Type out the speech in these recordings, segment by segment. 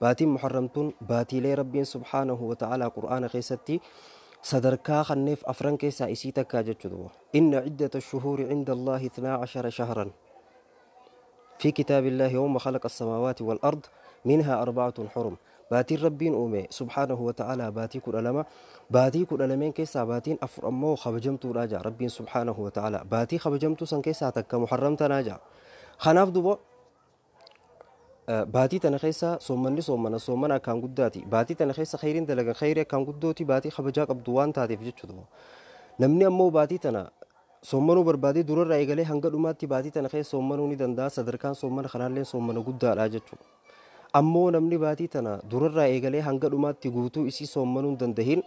Baatiin Muharram tun baatiilee Rabbiin subhaanahu wa ta'aalaa Qur'aana keessatti sadarkaa kanneef afran keessaa isii takkaa jechu duba. Inna ciddata shuhuuri cinda Allaahi ithnaa cashara shahran fi kitaabi Allaahi yawma khalaqa as-samaawaati wal ard minhaa arbacatun xurum. Baatiin Rabbiin uume subhaanahu wa ta'aalaa baatii kudha lama. Baatii kudha lameen keessaa baatiin afur ammoo kabajamtuudha ja'a Rabbiin subhaanahu wa ta'aalaa. Baatii kabajamtuu san keessaa takka Muharram tanaa ja'a. Kanaaf duba Baatii tana keessa soommanni soommana soommana akkaan guddaati. Baatii tana keessa khayriin dalagan khayrii akkaan guddooti baatii kabajaa qabdu waan taateef jechuudha. Namni ammoo baatii tana soommanuu barbaadee durarraa eegalee hanga dhumaatti baatii tana keessa soommanuu ni danda'a sadarkaan soommana kanaallee soommana guddaadha jechuudha. Ammoo namni baatii tana durarraa eegalee hanga dhumaatti guutuu isii soommanuu hin dandahin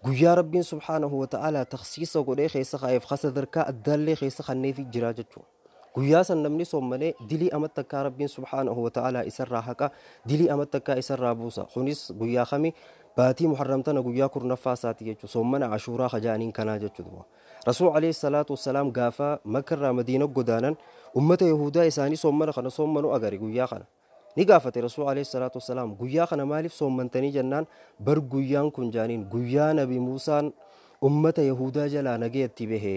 guyyaa rabbiin subhaanahu wa ta'aalaa taksiisa godhee keessa kaa'eef ka sadarkaa addaallee keessa kanneefi jira jechuudha. Guyyaa san namni soommane dilii ama takkaa Rabbiin subhaanahu wa ta'aalaa isarraa haqa, dilii ama takkaa isarraa buusa. Kunis guyyaa kami? Baatii Muharram tana guyyaa kurnaffaa isaati jechuudha. Soommana Ashuuraa ka ja'aniin kanaa jechuudha duuba. Rasuul alayhi salaatu wassalaam gaafa Makka irraa Madiina godaanan ummata Yahuudaa isaanii soommana kana soommanu agare guyyaa kana. Ni gaafate Rasuul Aleeyhi Salaatu Wassalaam guyyaa kana maaliif soommantanii jennaan bar guyyaan kun jaaniin guyyaa Nabi Muusaan ummata Yahuudaa jalaa nagaya itti bahe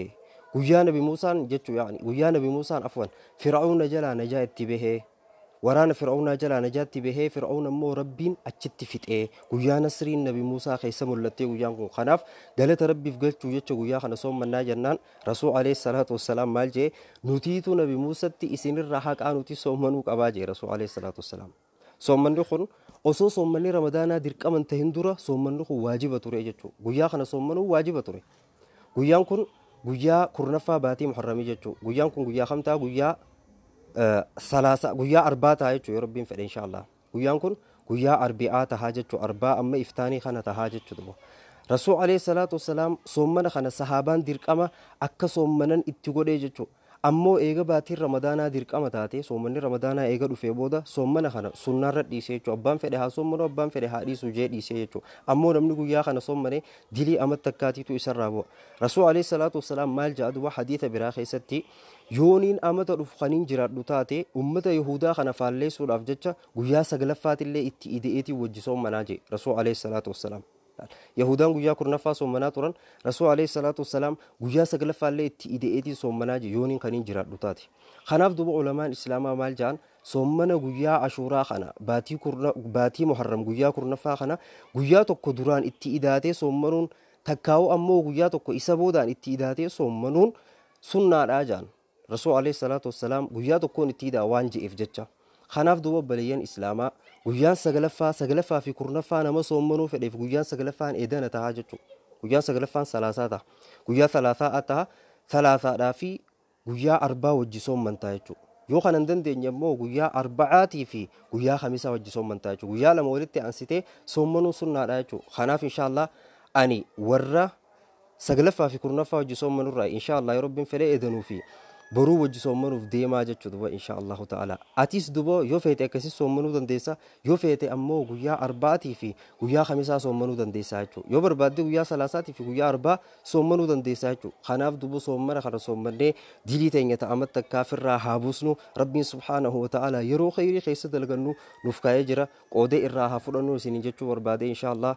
guyyaa Nabi Muusaan jechuu yaani guyyaa Nabi Muusaan afwan Fir'awna jalaa najaa itti bahe waraana Fir'awnaa jalaa najaatti bahee Fir'awna immoo Rabbiin achitti fixee guyyaa nasriin Nabi Muusaa keessa mul'attee guyyaan kun kanaaf galata Rabbiif galchuu jecha guyyaa kana soommannaa jennaan Rasuul Aleeyhi salaatu wassalaam maal jee nutiitu nabi Muusatti isinirraa haqaa nuti soommanuu qabaa jee Rasuul Aleeyhi salaatu wassalaam. Soommanni kun osoo soommanni ramadaanaa dirqama hin tahin dura soommanni kun waajiba ture jechuu. Guyyaa kana soommanuu waajiba ture. Guyyaan kun guyyaa kurnaffaa baatii muharramii jechuu. Guyyaan kun guyyaa kam ta'a guyyaa salaasaa guyyaa arbaa ta'a jechuu yoo rabbiin fedhe inshaa Allah. Guyyaan kun guyyaa arbi'aa tahaa jechu arbaa amma iftaanii kana tahaa jechu duba Rasul aleyh salaatu wassalaam soommana kana sahaabaan dirqama akka soommanan itti godhee jechu ammoo eega baatiin ramadaanaa dirqama taatee soomanni ramadaanaa eega dhufee booda soommana kana sunnaarra dhiisee jechu abbaan fedhe haa soommanu abbaan fedhe haa dhiisu jee dhiisee jechu ammoo namni guyyaa kana soommane dilii amat takkaatiitu isarraa bu'a Rasul aleyh salaatu wassalaam maal ja'a duba hadiisa biraa keessatti Yoonin amata dhufu kanin jiraadhu taate, ummata Yahuudaa kana faalleessuudhaaf jecha guyyaa saglaffaatillee itti ide'eetiin wajji soommanaa je'e, Rasuul aleyh salaatu wassalaam. Yahuudaan guyyaa kurnaffaa soommanaa turan, Rasuul aleyh salaatu wassalaam guyyaa saglaffaallee itti ide'eetiin soommanaa je'e yoonin kanin jiraadhu taate. Kanaaf duuba ulamaan Islaamaa maal ja'an, soommana guyyaa Ashuuraa kana, baatii kurna, baatii Muharram guyyaa kurnaffaa kana, guyyaa tokko duraan itti idaatee soommanuun, takkaahuu ammoo guyyaa tokko isa boodaan itti idaatee soommanuun sunnaadha jaan Rasuul Aleeyhi Salaatu Wassalaam guyyaa tokkoon itti idaa waan je'eef jecha. Kanaaf duuba obboleeyyan Islaamaa guyyaan saglaffaa, saglaffaa fi kurnaffaa nama soommanuu fedheef guyyaan saglaffaan eedana tahaa jechuudha. Guyyaan saglaffaan salaasaa taha. Guyyaa salaasaa taha. Salaasaadhaa fi guyyaa arbaa wajji soommantaa jechuudha. Yoo kana hin dandeenye immoo guyyaa arba'aatii fi guyyaa kamisaa wajji soommantaa jechuudha. Guyyaa lama walitti aansitee soommanuun sunnaadha jechuudha. Kanaaf inshaallah ani warra 9ffaa fi 10ffaa wajji soommanurraa inshaa Allah yoo Rabbiin fedhee edanuu fi boruu wajji soommanuuf deemaa jechuu duba inshaa Allahu ta'ala atis duba yoo feete akkasis soommanuu dandeessa yoo feete ammoo guyyaa arba'atii fi guyyaa kamisaa soommanuu dandeessa jechuu yoo barbaadde guyyaa salaasaatii fi guyyaa arbaa soommanuu dandeessa jechuu kanaaf duba soommana kana soommannee dilii teenya ta'amat takkaa firraa haa buusnu Rabbiin subhaanahu wa ta'ala yeroo kheyrii keessa dalgannu nuuf kaa'ee jira qoodee irraa haa fudhannu isiniin jechuu barbaade inshaa Allah